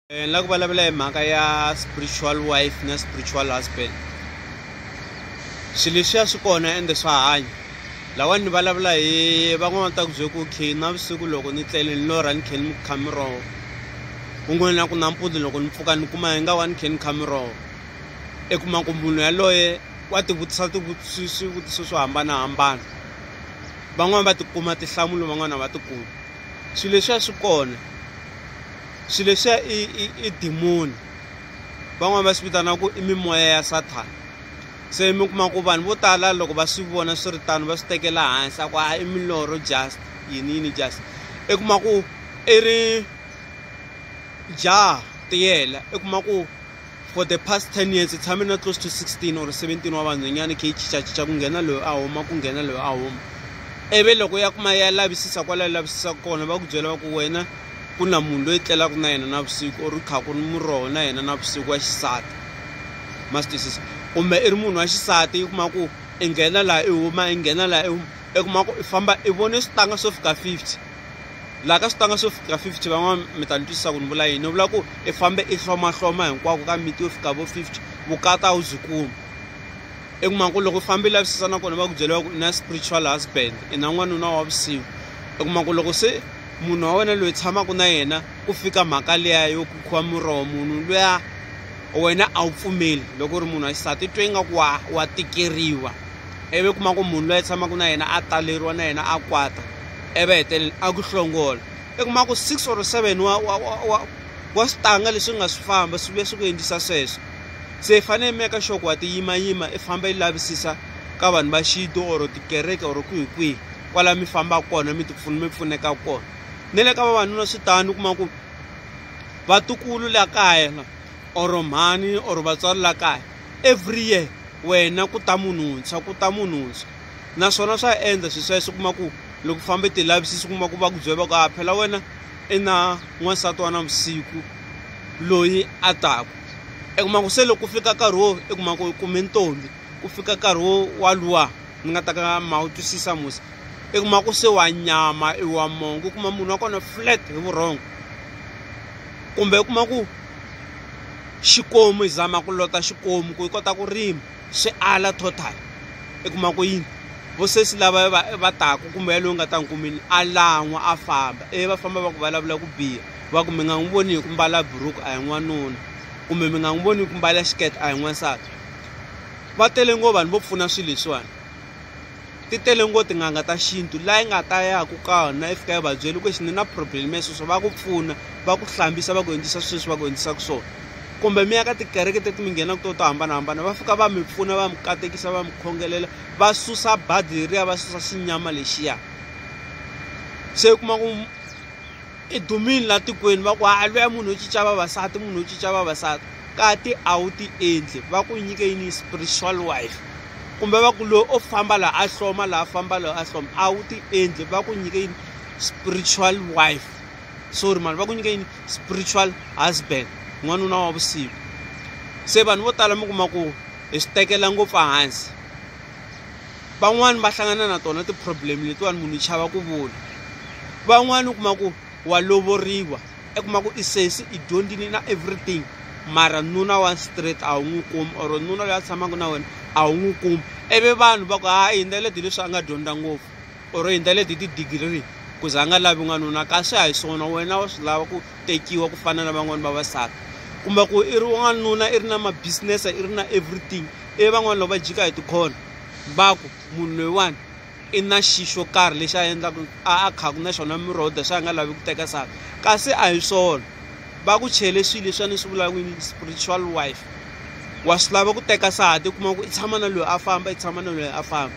eh, ni lava ku vulavula hi mhaka ya spiritual wife na spiritual husband swilo leswiya swi kona ende swa hanya lawani ni vulavula hi van'wana ta ku bye ku khe navusiku loko ni tlele ni lorha ni khe ni kha miroho kun'wana na ku nampundzu loko ni pfuka ni kuma hi nga wa ni khe ni kha miroho i kuma ku munhu yaloye wa tivutisa swivutiso swo hambanahambana van'wani va tikuma tihlamulo van'wana va tikuma swilo leswiya swi kona Xilo lexiya i i i demoni van'wani va swi vitana ku i mimoya ya Sathana se mi kuma ku vanhu vo tala loko va swi vona swi ri tano va swi tekela hansi a ku a i milorho just yini yini just i kuma ku i ri jaha tiyela i kuma ku for the past 10 years tshame na close to 16 or 17 wa vanhwanyana khe yi chichachicha ku nghena loyi a huma ku nghena loyi a huma ivi loko ya kuma ya lavisisa kwala yi lavisisaka kona va ku byela va ku wena ku na munhu loyi tlelaka na yena navusiku or kha ku ri muroho na yena navusiku wa xisati ma swi twisisa kumbe i ri munhu wa xisati yi kuma ku i nghena laha i huma i nghena laha i huma i kuma ku i famba i vone switanga swo fika fifty laha ka switanga swo fika 50 van'wana mi ta ni twisisa ku ni vula yini ni vula ku i fambe i hlomahloma hinkwako ka miti yo fika vo 50 vukata a wu byi kumi i kuma ku loko u fambe i lavisisa nakona va ku byeriwa ku i na spiritual husband i na n'wanuna wa vusiku i kuma ku loko se munhu wa wena loyi tshamaka na yena ku fika mhaka liya yo ku khuwa muroho munhu luya wena a wu pfumeli loko u ri munhu wa xisati twe ingaku wa wa tikeriwa ivi kuma ku munhu loyi tshamaka na yena a taleriwa na yena a kwata e va hetelela a ku hlongola i kuma ku six or seven wa wa wa wa wa switanga leswi nga swi famba swi vuya swi ku endlisa sweswo se i fanele i meka sure ku wa tiyimayima i famba i lavisisa ka vanhu va xintu or tikereke or kwihi kwihi kwala mi fambaka kona mi ti pfuna mi pfuneka kona ni le ka vavanuna swi tani u kuma ku vatukulu la kaya or mhani or vatswari la kaya every year wena ku ta munhu wuntshwa ku ta munhu wuntshwa naswona swa endla swi sweswo kuma ku loko fambe ti lavisisi kuma ku va ku byeva ku a phela wena i na n'wansati wa na vusiku loyi a taku i kuma ku se loko ku fika nkarhi wo i kuma ku kume ntombi ku fika nkarhi wo wa luwa ni nga ta ka ma wu twisisa musa i kuma ku se wa nyama i wa mongo u kuma munhu wa kona flat hi vurhongo kumbe u kuma ku xikomu hi zama ku lota xikomu ku yi kota ku rima swi ala total i kuma ku yini vo sesi lava va va taka kumbe yaloyi nga ta n'wi kumini a lan'wa a famba ivi va famba va ku vulavula ku biha va ku mi nga n'wi voni hi ku mbala buruku a hi n'wanuna kumbe mi nga n'wi voni hi ku mbala xikete a hi n'wansati va tele ngo vanhu vo pfuna swilo leswiwani ti tele ngo tin'anga ta xintu laha yi nga ta yaka kona i fika yi va byela ku ni na problem ya sweswo va ku pfuna va ku hlambisa va ku endlisa sweswi va ku endlisaka swona kumbe mi ya ka tikereke teti mi nghenaka to to hambanahambana va fika va mi pfuna va mi katekisa va mi khongelela va susa badi leriya va susa xinyama lexiya se u kuma ku i dumile laha tikweni va ku ha luya munhu wo cinca vavasati munhu wo cinca vavasati Kati a wu ti endli va ku nyike yini yi spiritual wife kumbe va ku loyi o famba laha a hloma laha a famba loyi a hloma a wu ti endli va ku nyike yini spiritual wife sorry mani va ku nyike yini spiritual husband n'wanuna wa vusiku se vanhu vo tala mi kuma ku hi swi tekela ngopfu hansi van'wani va hlangana na tona ti-problem letiwani munhu yi chava ku vula van'wani u kuma ku wa lovoriwa i kuma ku i sesi i dyondzini na everything mara nuna wa straight a wu n'wi kumi or nuna loyi a tshamaka na wena a wu n'wi kumi ivi vanhu va ku ha hi ndlela leti leswi a nga dyondza ngopfu or hi ndlela leti ti-degree ku za a nga lavi n'wanuna kasi a hi swona wena wa swi lava ku tekiwa ku fana na van'wani vavasati kumbe ku i ri wanuna i ri na ma-business i ri na everything ivi van'wani loko va jika hi tikhona va ku munhu loyiwani i na xi xo karhi lexi a endlaku a a khaku na xona miroho that's a nga lavi ku teka saka kasi a hi swona va ku chele swilo leswi a ni swi vulaka yini spiritual wife wa swi lava ku teka sahati u kuma ku i tshama na loyi a famba i tshama na loyi a famba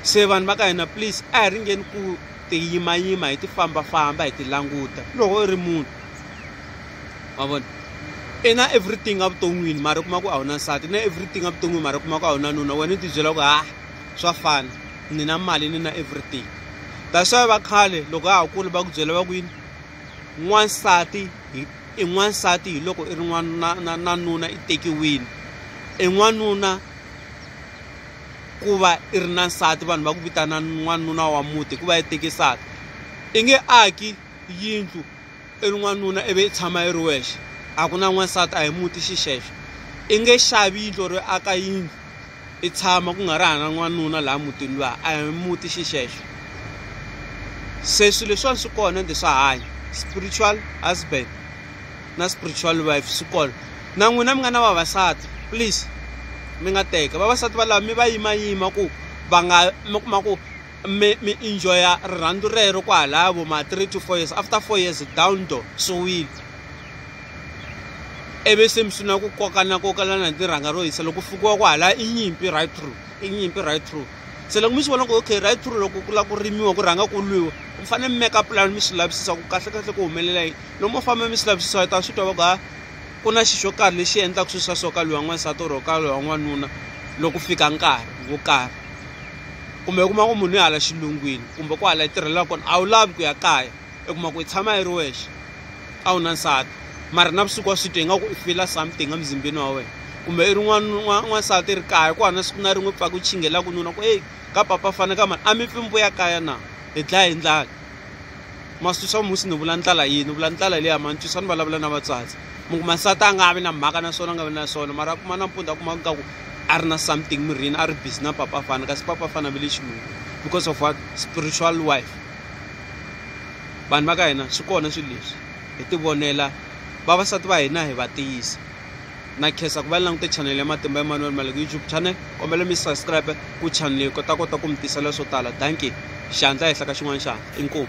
se vanhu va ka hina please a hi ringeni ku ti yimayima hi ti fambafamba hi ti languta loko i ri munhu wa vona i na everything evuton'wini mara u kuma ku a wu na nsati na everything evuton'wini mara u kuma ku a wu na nuna wena u tibyela ku ha swa fana ni na mali ni na everything that's why va khale loko ha kula va ku byela va ku yini n'wansati i n'wansati hi loko i ri n'wana na na nuna i tekiwile i n'wanuna ku va i ri na nsati vanhu va ku vitana n'wanuna wa muti hikuva i tekisaka i nge aki yindlu i ri n'wanuna ivi i tshama i ri wexe a ku na n'wansati a hi muti xixexo i nge xavi yindlo ri aka yindlu i tshama ku nga ri hana n'wanuna laha mutini luya a hi muti xixexo se swilo leswiwani swi kona ende swa hanya spiritual husband na spiritual wife swi kona na n'wina mi nga na vavasati please mi nga teka vavasati valava mi va yimayima ku va nga mi kuma ku mi mi enjoya rirhandzu rero kwahalaya vo ma three to four years after four years down door swi wile ivi se mi sungula ku kokana kokalana hi tirhanga ro hisa loko fikiwa kwahalaya i nyimpi right through i nyimpi right through se loko mi swi vona ku okay right through loko ku lava ku rimiwa ku rhanga ku lwiwa mi fanele mi meka pulani mi swi lavisisa ku kahle kahle ku humelela yini loko mo famba mi swi lavisisa hi ta swi twa va ku ha ku na xi xo karhi lexi endlaka swilo swa so ka lwiwa n'wansati or ka lwiwa n'wanuna loko fika nkarhi wo karhi kumbe u kuma ku munhu i hala xilungwini kumbe ku hala i tirhela kona a wu lavi ku ya kaya i kuma ku i tshama i ri wexe a wu na nsati mara na vusiku wa swi twa ingaku i fila something emzimbeni wa wena kumbe i ri n'wansati i ri kaya ku hana siku na rin'we pfaka u chinghelaka nuna ku eyi ka papa fana ka mani a mi pfi mi vuya kaya na hi dlaya hi ndlala maswisa musi ni vula ndlala yini vula ndlala leyi amantswisa ni vulavula na vatswatsi mi kuma nsati a nga vi na mhaka na swona a nga vi na swona mara a kuma na mpundza a kuma nga ku a ri na something mirini a ri busy na papa fana kasi papa fana ve le xilungu because of what spiritual wife vanhu va ka hina swi kona swilo leswi hi tivonela vavasati va hina hi va tiyisa na khensa ku va ni langute chanele ya matimba emanuel maleko youtube channel kombela mi subscribe ku chanele kota kota ku mi tisela swo tala danki xandla ehenhla ka xin'wana xandla inkomu